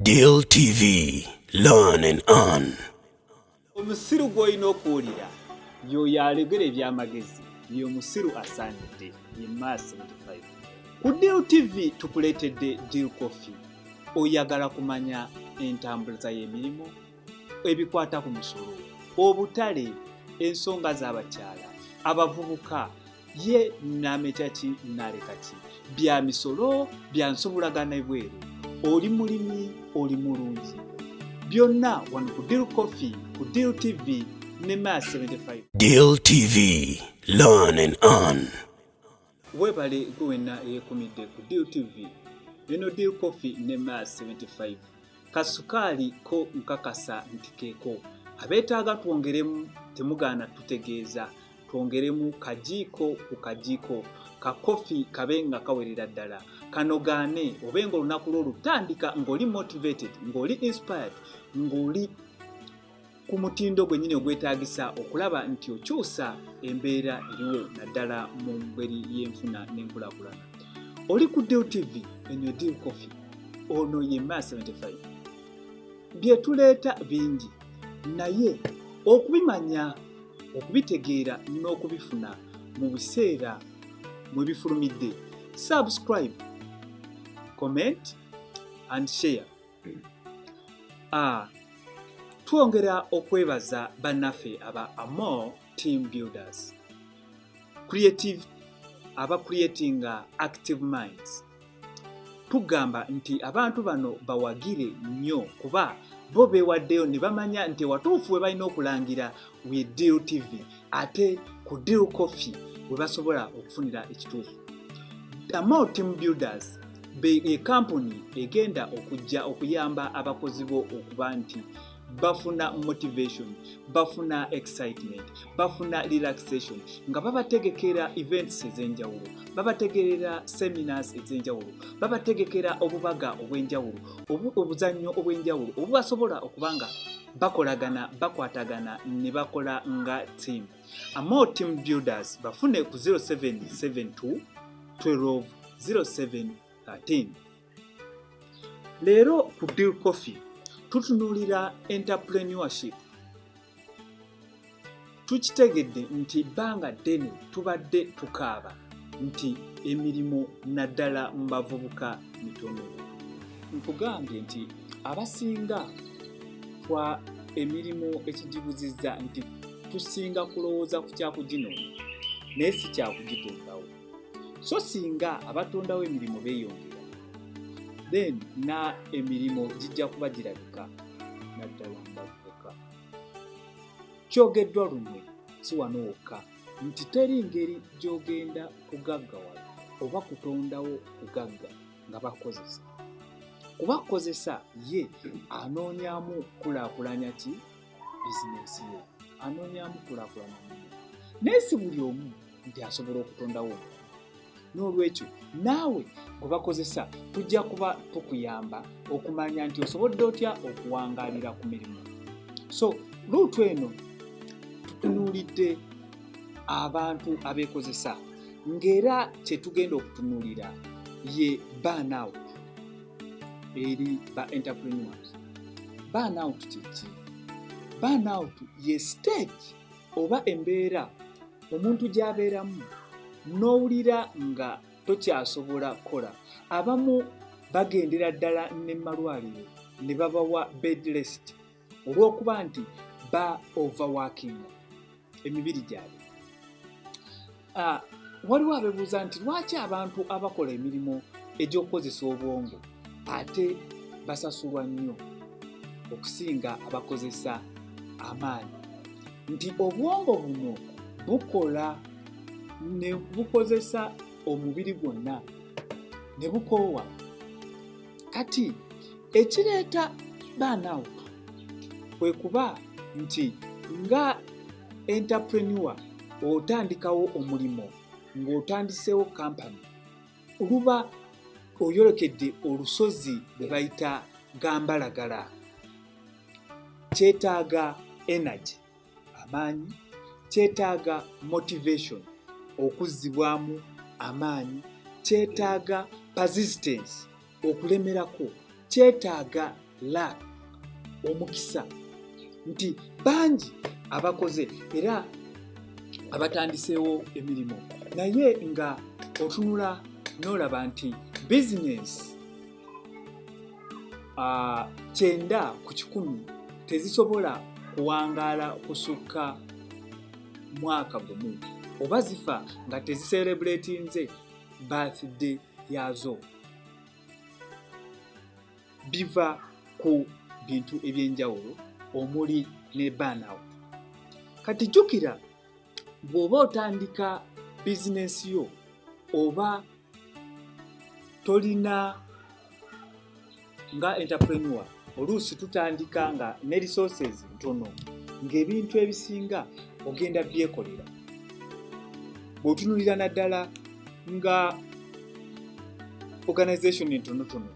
Deal TV, learn and earn. Omusiru gw'olina okuwulira y'oyo alegera eby'amagezi ye omusiru asaanidde ye Mar 75. Ku Deal TV tukuleetedde Deal Coffee. Oyagala kumanya entambuliza y'emirimu? ebikwata ku musolo obutale ensonga z'abakyala abavubuka ye nameta ki naleka ki bya misolo bya nsobolagana ebweru oli mulimi oli mulungi byonna wano ku deal coffee ku deal tv ne ma 75 deal tv learn and earn Webale gwe wenna eyekumidde ku Deal TV. Eno Deal Coffee ne Mars 75. Kasukaali ko nkakasa nti keeko. Abeetaaga twongeremu temugaana tutegeeza. Twongeremu kajiiko ku kajiiko. Ka kofi kabe nga kawerera ddala. Kanogaane obe ng'olunaku lwo lutandika ng'oli motivated, ng'oli inspired, ng'oli ku mutindo gwennyini ogwetaagisa okulaba nti okyusa embeera eriwo naddala mu ngeri y'enfuna n'enkulakulana oli ku deal tv enyo deal coffee ono ye ma 75 byetuleeta bingi naye okubimanya okubitegeera n'okubifuna mu biseera mwe bifulumidde subscribe comment and share a twongera okwebaza bannaffe aba amor team builders creative aba creatinga active minds tugamba nti abantu bano bawagire nnyo kuba bo beewaddeyo ne bamanya nti watuufu we balina okulangira we deal tv ate ku deal coffee we basobola okufunira ekituufu damo team builders ekampuni e egenda okujja okuyamba abakozi bo okuba nti bafuna motivation bafuna excitement bafuna relaxation nga babategekera events ez'enjawulo babategerera seminars ez'enjawulo babategekera obubaga obw'enjawulo obuzannyo obw'enjawulo obubasobola okuba nga bakolagana bakwatagana ne bakola nga team amore team builders bafune ku 0772 12 0713 leero ku deal coffee tutunuulira entrepreneurship Tukitegedde nti ebbanga ddene tubadde tukaaba nti emirimu naddala mu bavubuka mitono. Nkugambye nti abasinga twa emirimu ekigibuzizza nti tusinga kulowooza ku kyakuginoonya naye si kyakugitondawo. So singa abatondawo emirimu beeyongera, then na emirimu gijja kuba girabika naddala mu bavubuka. kyogeddwa lunywe si wano wokka nti teri ngeri gy'ogenda kugaggawala oba kutondawo kugagga nga bakukozesa kuba kukozesa ye anoonyamu kulaakulanya ki bizinensi ye anoonyamu kulaakulanya naye si buli omu nti asobola okutondawo omuntu n'olwekyo naawe gwe bakozesa tujja kuba tukuyamba okumanya nti osobodde otya okuwangaalira ku mirimu so luutu eno tutunuulidde abantu abeekozesa ng'era kye tugenda okutunuulira ye burnout eri ba entrepreneurs burnout kyeki burnout ye stage oba embeera omuntu gy'abeeramu n'owulira nga tokyasobola kukola abamu bagendera ddala ne malwaliro ne babawa bedrest olw'okuba nti ba overworking emibiri gyabwe Ah, waliwo abebuuza nti lwaki abantu abakola emirimu egy'okukozesa obwongo ate basasulwa nnyo okusinga abakozesa amaanyi nti obwongo buno bukola ne bukozesa omubiri gwonna ne bukoowa kati ekireeta baanaawo kwe kuba nti nga Entrepreneur otandikawo omulimu ng'otandiseewo kampani oluba oyolekedde olusozi lwe bayita gambalagala kyetaaga energy amaanyi kyetaaga motivation okuzzibwamu amaanyi kyetaaga persistence okulemerako kyetaaga la omukisa nti bangi abakoze era abatandiseewo emirimu naye nga otunula n'olaba nti bizinensi ah, kyenda ku kikumi tezisobola kuwangaala kusukka mwaka gumu oba zifa nga teziserebuletinze birthday yaazo biva ku bintu eby'enjawulo omuli ne burnout kati jjukira bw'oba otandika bizinensi yo oba tolina nga entrepreneur oluusi tutandika nga ne resources ntono ng'ebintu ebisinga ogenda byekolera bw'otunulira naddala nga organization entonotono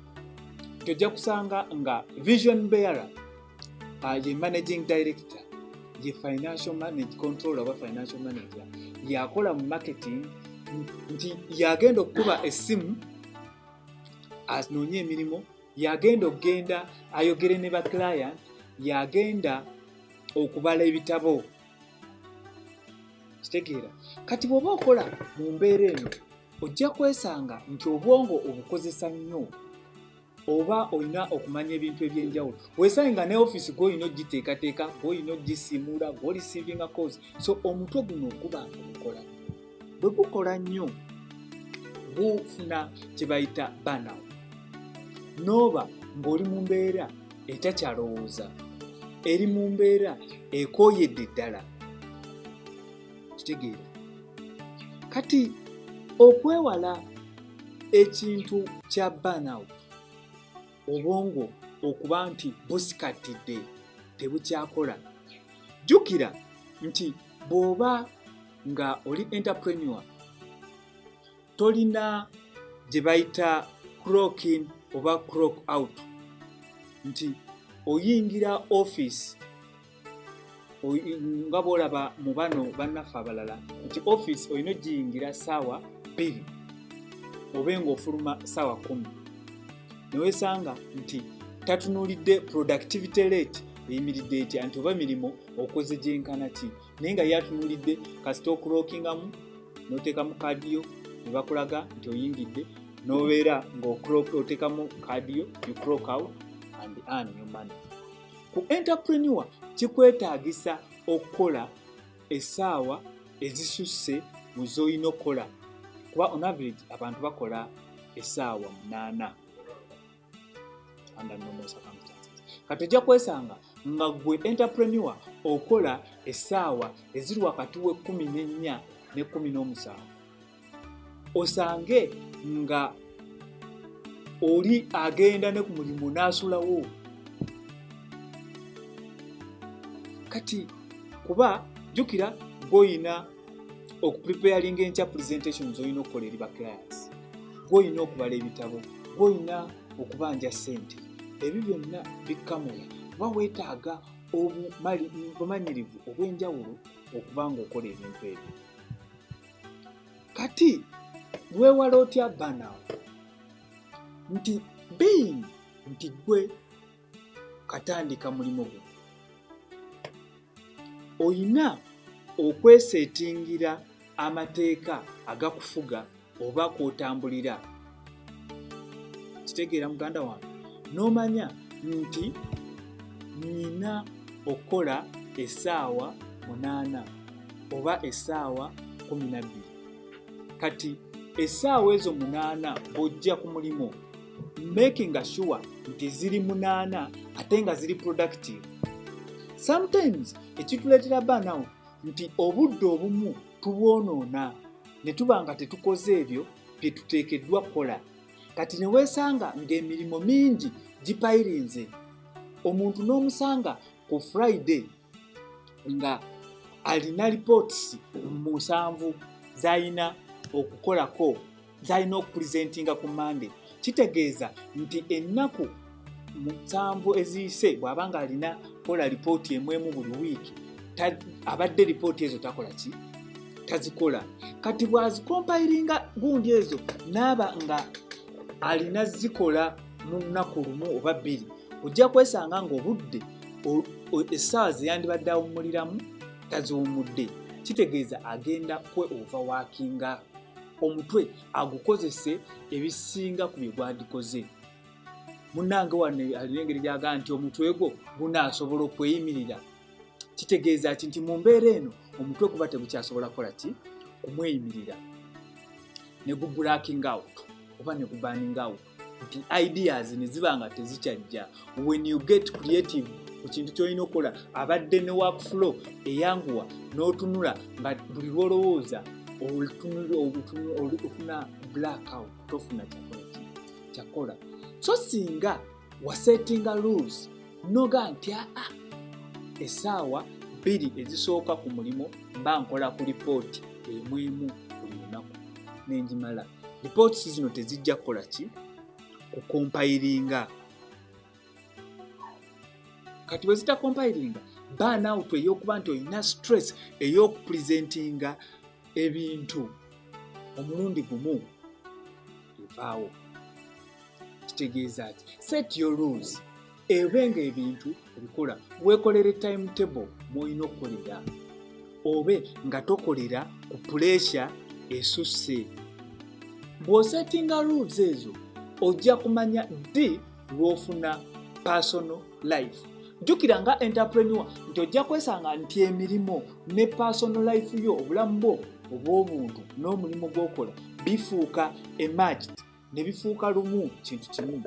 tojja kusanga nga vision bearer uh, ye managing director ye financial manage control oba financial manager yakola mu marketing nti yagenda okukuba essimu anoonye emirimu yagenda okugenda ayogere ne ba client yagenda okubala ebitabo kitegeera kati bw'oba okola mu mbeera eno ojja kwesanga nti obwongo obukozesa nnyo oba olina okumanya ebintu ebyenjawulo wesange nga ne office gwoyina ogiteekateeka gwoyina ogisiimuula gwolisiivinga cos so omutwe guno guba ogukola bwe gukola nnyo gufuna kye bayita banawo n'oba ng'oli mu mbeera etakyalowooza eri mu mbeera ekooyedde ddala kitegeera kati okwewala ekintu kya banawo obwongo okuba nti busikattidde tebukyakola jjukira nti bw'oba nga oli entrepreneur tolina gye bayita crockin oba crock out nti oyingira office nga bwolaba mu bano bannaffe abalala nti office olina ogiyingira saawa bbiri obe ng'ofuluma saawa kumi newesanga nti tatunuulidde productivity rate eyimiridde etya nti oba mirimu okoze gyenkana ki naye nga yatunulidde kasita okulokingamu notekamu kaadi yo nebakulaga nti oyingidde nobeera ngaotekamu kaadi yo you crock out and earn your money ku entrepreneur kikwetaagisa okukola esaawa ezisusse mu zolina okukola kuba on average abantu bakola esaawa munaana under normal circumstances kati ojja kwesanga nga gwe entrepreneur okola essaawa eziri wakati w'ekkumi n'ennya n'ekkumi n'omusanvu osange nga oli agenda ne ku mulimu n'asulawo kati kuba jjukira gwoyina okupreparinga enkya presentation zolina okukola eri ba clients gwolina okubala ebitabo gwolina okubanja sente ebyo byonna bikkamula kuba weetaaga obumanyirivu obw'enjawulo okuba nga okola ebintu ebyo kati weewala otya banawo nti being nti gwe katandika mulimu gwe olina okweseetingira amateeka agakufuga oba kwotambulira kitegeera muganda wange n'omanya nti nina okukola esaawa munaana oba esaawa kumi nabbiri kati esaawa ezo munaana bw'ojja ku mulimu makinga sure nti ziri munaana ate nga ziri productive sometimes ekituleetera banawo nti obudde obumu tubwonoona ne tuba nga tetukoze ebyo bye tuteekeddwa kukola kati ne weesanga ng'emirimu mingi gipayirinze omuntu n'omusanga ku friday nga alina reports musanvu zalina okukolako zalina okupresentinga ku monday kitegeeza nti ennaku musanvu eziyise bw'aba nga alina kola lipooti emu emu buli wiiki abadde lipooti ezo takola ki tazikola kati bw'azikompayiringa gundi ezo naaba nga alina zikola mu lunaku lumu oba bbiri ojja kwesanga ng'obudde essaawa zeyandibadde awummuliramu taziwummudde kitegeeza agenda kwe ova waakinga omutwe agukozese ebisinga ku bye gwandikoze munnange wano alina engeri gyaga nti omutwe gwo gunaasobola okweyimirira kitegeeza ki nti mu mbeera eno omutwe guba tegukyasobola kukola ki kumweyimirira ne gubulaking out oba ne gubaning out nti ideas ne ziba nga tezikyajja when you get creative ku kintu kyolina okukola abadde ne work flow eyanguwa n'otunula nga buli lwolowooza ofuna blackout tofuna kyakola kyakola so singa wasettinga rules noga nti aa ah, ah, esaawa bbiri ezisooka ku mulimu mba nkola ku lipooti emu emu buli lunaku nenjimala Reports zino tezijja kukola ki ku compilinga. Kati bwe zita compilinga burn out eyokuba nti olina stress eyokupresentinga ebintu omulundi gumu evaawo kitegeeza ki set your rules ebe nga ebintu obikola wekolere timetable mwolina okukolera obe nga tokolera ku puresya esusse bw'osetinga rules ezo ojja kumanya ddi lw'ofuna personal life jjukira nga entrepreneur nti ojja kwesanga nti emirimu ne personal life yo obulamu bwo obw'obuntu n'omulimu gw'okola bifuuka emagit ne bifuuka lumu kintu kimu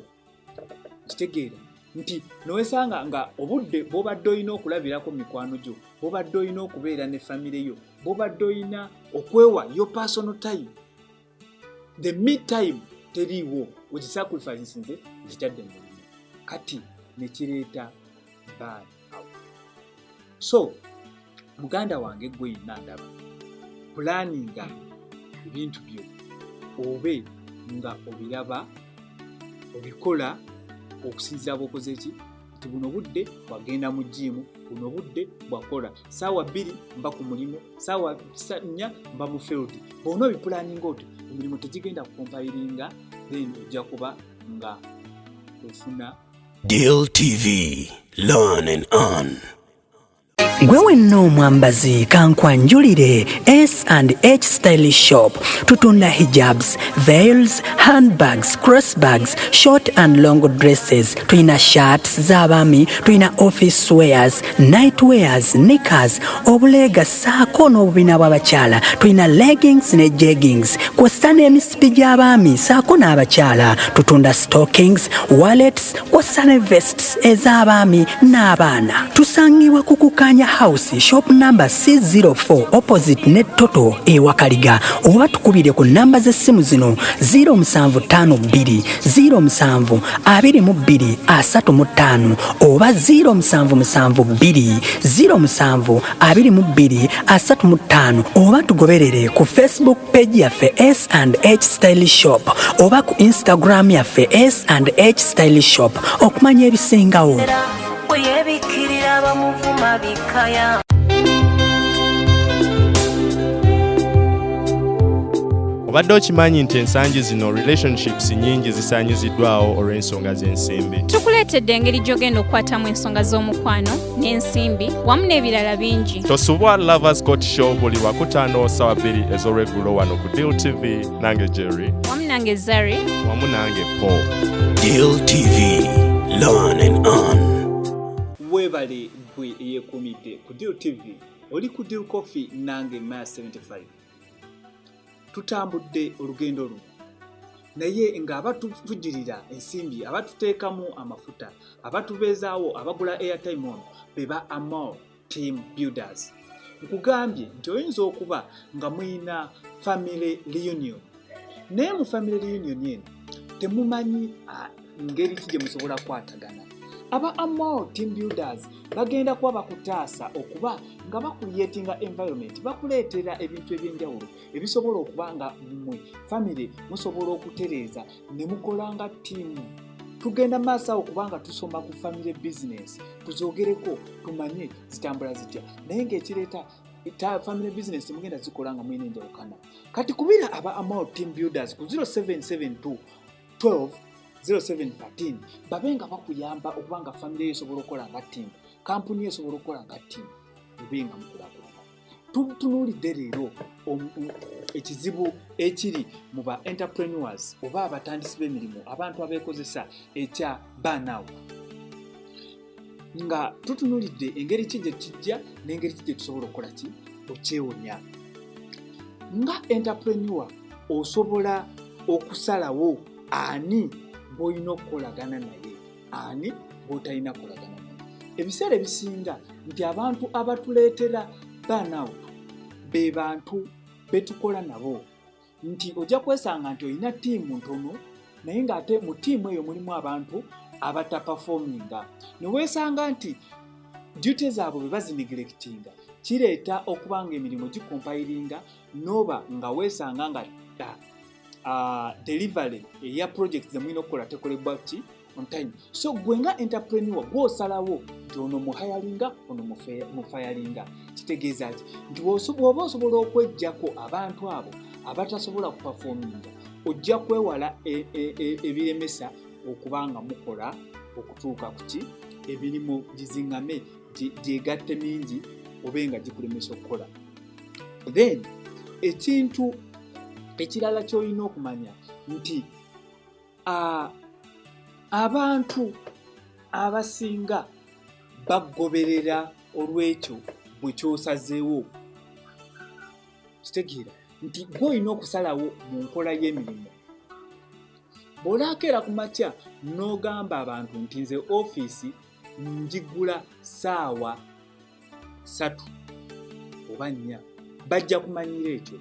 kitegeera nti nowesanga nga obudde bwobadde olina okulabirako mikwano gyo bwobadde olina okubeera ne famire yo bwobadde olina okwewa yo personal time the me time teriiwo okisacrifice nsinze nkitadde mu kati nekireeta bad so muganda wange gwe yenna ndaba pulaninga ebintu byo obe nga obiraba obikola okusinzira bwokoze ki nti buno budde bwagenda mu jiimu buno budde bwakola saawa bbiri mba ku mulimu saawa nnya mba mu field bona obipulaninga otyo emirimu tegigenda kukompayiringa then ojja kuba nga ofuna Deal TV, learn and earn. gwe wenna omwambazi kankwanjulire s and h style shop tutunda hijabs veils handbags crossbags short and long dresses tulina shirts z'abaami tulina office swears night wears nickers obuleega saako n'obubina bw'abakyala tulina leggings ne jeggings kw'ossa n'emisa misipi gy'abaami saako n'abakyala tutunda stockings wallets kw'ossa ne vests ez'abaami n'abaana tusangibwa ku kukaanya house shop number c04 opposite ne toto ewakaliga oba tukubire ku namba z'essimu zino 0752072235 oba 0772072235 oba tugoberere ku facebook page yaffe s and h style shop oba ku instagram yaffe s and h style shop okumanya ebisingawo obadde okimanyi nti ensangi zino relationships nyingi zisanyiziddwawo olw'ensonga z'ensimbi tukuleetedde engeri gy'ogenda okukwatamu ensonga z'omukwano n'ensimbi wamu n'ebirala bingi tosubwa lovers court show buli wakutaano sawa bbiri ez'olweggulo wano ku deal tv nange jerry wamu nange zari wamu nange paul deal tv learn and on webale gwe eyekumidde ku deal tv oli ku deal coffee nange ma 75 tutambudde olugendo luno naye nga abatuvujirira ensimbi abatuteekamu amafuta abatubeezaawo abagula airtime ono be ba amol team builders nkugambye nti oyinza okuba nga muyina family reunion naye mu family reunion eno temumanyi ah, ngeri ki gye musobola kukwatagana aba amol team builders bagenda kuba bakutaasa okuba nga bakuliyetinga environment bakuleetera ebintu ebyenjawulo ebisobola okuba nga mmwe family musobola okutereeza ne mukola nga tiimu tugenda maaso awo kubanga tusoma ku family business tuzogereko tumanye zitambula zitya naye ngaekireeta family business mugenda zikola nga mulina enjawukana kati kubira aba amal team builders ku 0772 12 0713 babe nga bakuyamba okuba nga famiry esobola okukola nga tiimu kampuni esobola okukola nga tiimu ebe nga mukulakulana tutunuulidde leero ekizibu ekiri mu ba entrepreneurs oba abatandisi b'emirimu abantu abeekozesa ekya banawu nga tutunulidde engeri ki gye kijja n'engeri ki gye tusobola okukola ki okyewonya nga entrepreneur osobola okusalawo ani gw'olina okukolagana naye ani gw'otalina kukolagana naye ebiseera ebisinga nti abantu abatuleetera burnout be bantu betukola nabo nti ojja kwesanga nti olina ttiimu ntono naye ng'ate mu ttiimu eyo mulimu abantu abatapafominga ne weesanga nti duty zaabwe bwe bazinigirekitinga kireeta okuba nga emirimu gikompayiringa nooba nga weesanga nga ah, delivery eya project zemulina okukola tekolebwa ki on time so gwe nga entrepreneur gwosalawo nti ono muhayalinga ono mufayalinga kitegeeza ki nti bwoba osobola okwejjako abantu abo abatasobola kupafominga ojja kwewala e, e, e, ebiremesa okuba nga mukola okutuuka kuki emirimu gizingame gyegatte mingi obe nga gikulemesa okukola then ekintu ekirala kyolina okumanya nti abantu abasinga bagoberera olwekyo bwe kyosazeewo kitegeera nti gwe olina okusalawo mu nkola y'emirimu bw'olaakeera ku makya n'ogamba abantu nti nze ofiisi njigula saawa satu oba nnya bajja kumanyira ekyo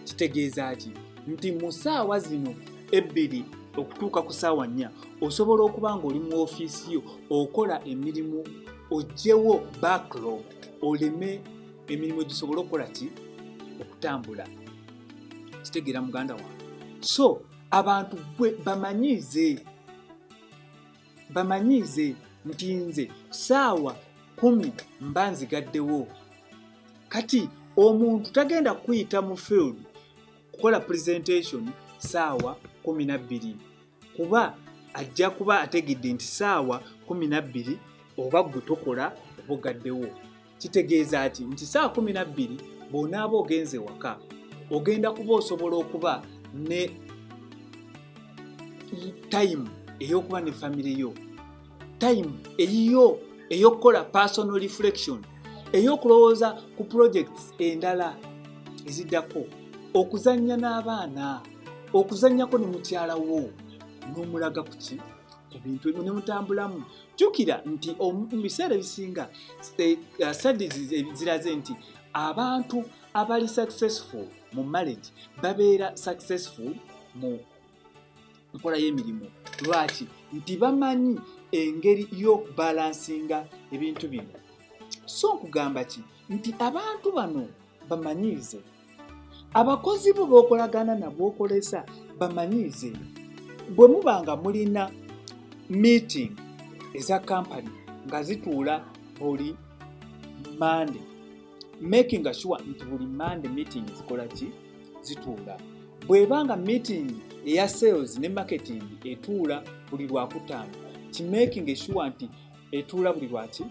kitegeeza ki nti mu saawa zino ebbiri okutuuka ku saawa nnya osobola okuba ng'oli mu ofiisi yo okola emirimu ojjewo backlog oleme emirimu gisobole okukola ki okutambula kitegeera muganda wange so abantu gwe bamanyiize bamanyiize nti nze saawa kumi mba nzigaddewo kati omuntu tagenda kuyita mu field kukola presentation saawa kumi nabbiri kuba ajja kuba ategedde nti saawa kumi nabbiri oba gwe tokola obugaddewo kitegeeza ki nti saa kumi na bbiri bw'onaaba ogenze waka ogenda kuba osobola okuba ne tayimu ey'okuba ne famire yo tayimu eyiyo ey'okukola personal reflection ey'okulowooza ku projects endala eziddako okuzannya n'abaana okuzannyako ne mukyala wo n'omulaga ku ki ku bintu ebyo ne mutambulamu jjukira nti mu biseera ebisinga eh, uh, studies ziraze nti abantu abali successful mu marriage babeera successful mu nkola y'emirimu lwaki nti bamanyi engeri y'okubalansinga ebintu bino so nkugamba ki nti abantu bano bamanyiize abakozi bo bokolagana nabwokolesa bamanyiize bwe muba nga mulina meeting eza kampany nga zituula buli mande making sure nti buli mande meeting zikola ki zituula bweba nga meeting eya sales ne marketing etuula buli lwakutaano kimaking sure nti etuula buli lwaki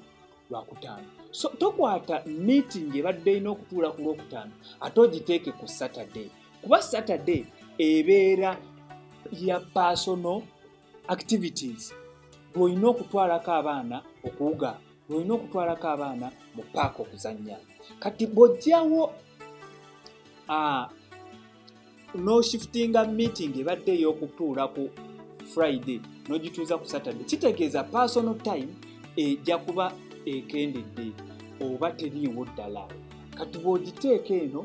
lwakutaano so tokwata meeting ebadde erina okutuula ku lwokutaano ate ogiteeke ku saturday kuba saturday ebeera ya personal activities lwolina okutwalako abaana okuwuga lwolina okutwalako abaana mu paaka okuzannya kati bwojjawo ah, n'oshiftinga meeting ebadde ey'okutuula ku friday n'ogituuza ku saturday kitegeeza personal time ejja kuba ekendedde oba teriiwo ddala kati bw'ogiteeka eno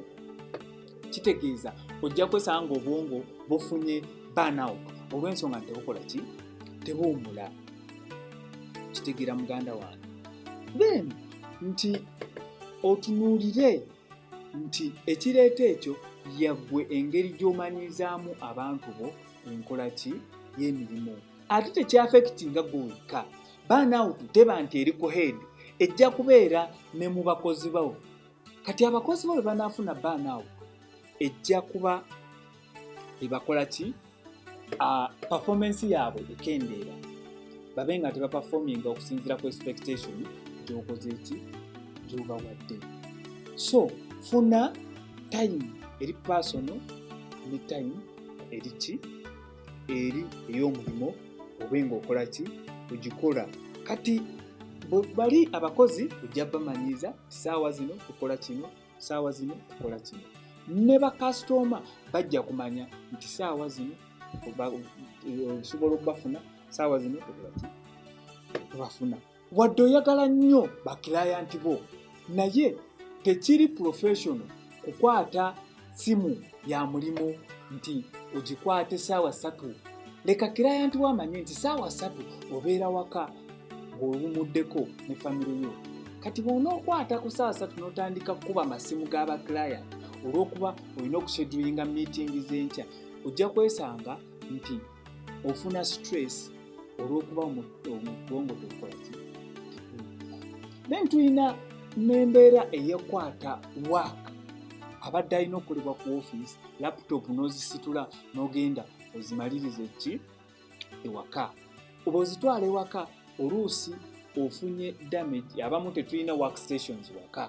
kitegeeza ojja kwesanga nga obwongo bufunye burnout olw'ensonga nti tebukola ki tebuwumula kitegeera muganda wange then nti otunuulire nti ekireeta ekyo yaggwe engeri gy'omanyirizaamu abantu bo enkola ki y'emirimu ate tekyafekiti nga gwe wekka baanawutu teba nti eri ku head ejja kubeera ne mu bakozi bawo kati abakozi bo bwe banaafuna baanawutu ejja kuba ebakola ki uh, performance yaabwe ekendeera babe nga tebaperforminga okusinziira ku expectation gyokoze ki gyobawadde so funa time eri personal ne time eri ki eri ey'omulimu obe ngaokola ki ogikola kati bali abakozi ojja bamanyiiza saawa zino tukola kino saawa zino okola kino ne bakasitoma bajja kumanya nti saawa zino osobola okubafuna saawa zino obafuna wadde oyagala nnyo bakilayanti bo naye tekiri professional kukwata simu ya mulimu nti ogikwate saawa ssatu leka kirayanti wo amanye nti saawa ssatu obeera waka ng'owumuddeko ne famire yo kati bwona okwata ku saawa ssatu n'otandika kukuba amasimu g'abakirayant olw'okuba olina okusedulinga miitingi z'enkya ojja kwesanga nti ofuna stress olw'okuba omubwongo tokwaki then tulina n'embeera eyekwata waaka abadde alina okukolebwa ku ofiisi laputopu n'ozisitula n'ogenda ozimalirize ki ewaka oba ozitwala ewaka oluusi ofunye damage abamu tetulina work stations waka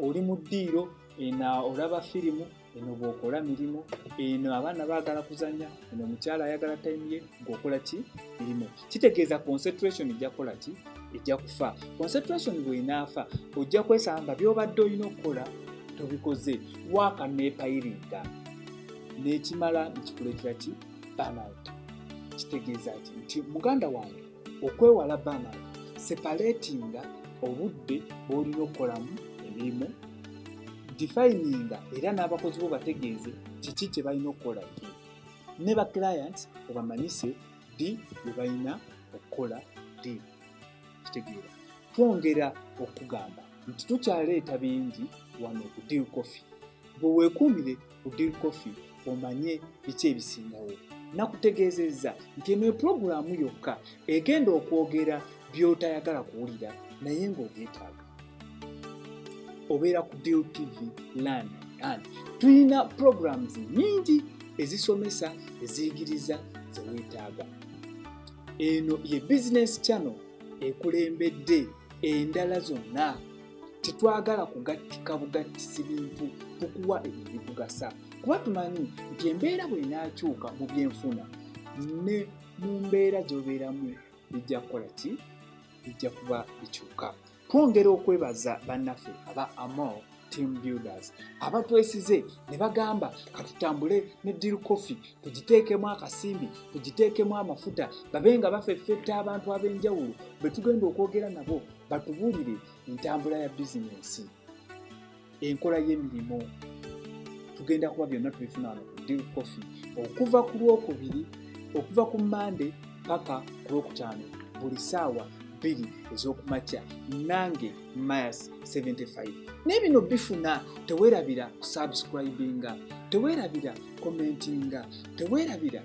oli mu ddiiro ena olaba firimu eno bwokola mirimu eno abaana baagala kuzanya eno omukyala ayagala time ye gweokola ki mirimu kitegeeza concentration ejja kukola ki ejja kufa concentration bwenaafa ojja kwesanga nga byobadde olina okukola tobikoze waaka neepayiringa nekimala nekikuleetera ki burnout kitegeeza ki nti muganda wange okwewala burnout separatinga obudde bwolina okukolamu emirimu defininga era n'abakozi bo bategeeze kiki kye balina okukola ne ba clients obamanyise ddi lwe balina okukola ddi kitegeera twongera okugamba nti tukyaleeta bingi wano ku deal coffee bwe weekuumire ku deal coffee omanye biki ebisingawo nakutegeezezza nti eno epulogulaamu yokka egenda okwogera by'otayagala kuwulira naye ng'obyetaaga obeera ku deal tv learn and tulina programs nyingi ezisomesa eziyigiriza zeweetaaga eno ye business channel ekulembedde endala zonna tetwagala kugattika bugattisi bintu tukuwa ebyo bikugasa kuba tumanyi nti embeera bwenaakyuka mu byenfuna ne mu mbeera gyobeeramu bijja kukola ki bijja kuba bikyuka twongera okwebaza bannaffe aba amol team builders abatwesize ne bagamba katutambule ne deal coffee tugiteekemu akasimbi tugiteekemu amafuta babe nga bafeffetta abantu ab'enjawulo bwe tugenda okwogera nabo batubuulire entambula ya bizinensi enkola y'emirimu tugenda kuba byonna tubifuna wano ku deal coffee okuva ku lwokubiri okuva ku mande paka ku lwokutaano buli saawa bbiri ez'okumakya nange mayas 75 naye bino bifuna tewerabira kusubscribinga tewerabira commentinga tewerabira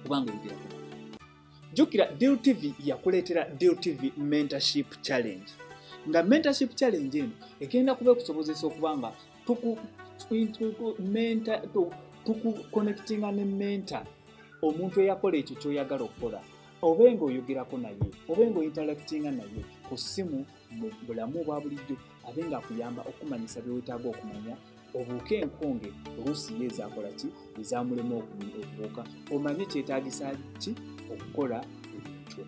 kubanga ebigeraku jjukira deal tv yakuleetera deal tv mentorship challenge nga mentorship challenge eno egenda kuba ekusobozesa okuba nga tukuconnectinga ne mentor omuntu eyakola ekyo kyoyagala okukola obe nga oyogerako naye obe nga ointeractinga naye ku ssimu mu bulamu obwa bulijjo abe ng'akuyamba okumanyisa bye weetaaga okumanya obuuke enkonge oluusi ye ezaakola ki ezaamulema okubuuka omanye kyetaagisa ki okukola ekyo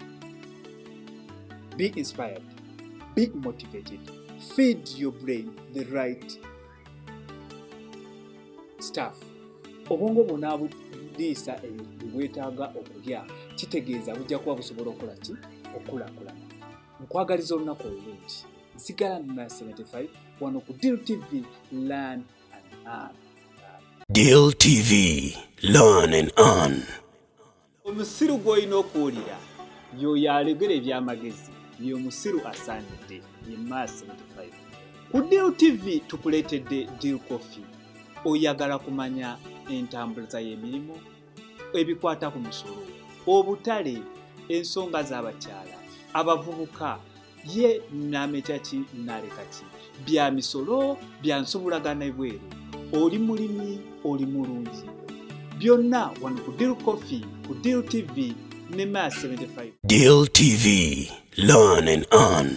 be inspired be motivated feed your brain the right staff obwongo bwona buliisa ebintu bwetaaga okulya kitegeeza bujja kuba busobola okukola ki okukulakulana nkwagaliza olunaku olulungi nsigala nina 75 wano ku deal tv lan and an deal tv lan and an omusiru gwolina okuwulira yoyo alegera ebyamagezi ye omusiru asaanidde ye ma 75 ku deal tv tukuleetedde deal coffee oyagala kumanya entambuliza y'emirimu ebikwata ku musolo obutale ensonga z'abakyala abavubuka ye namekya ki naleka ki bya misolo bya nsobolagana ebweru oli mulimi oli mulungi byonna wano ku deal coffee ku deal tv ne ma 75 deal tv learn and earn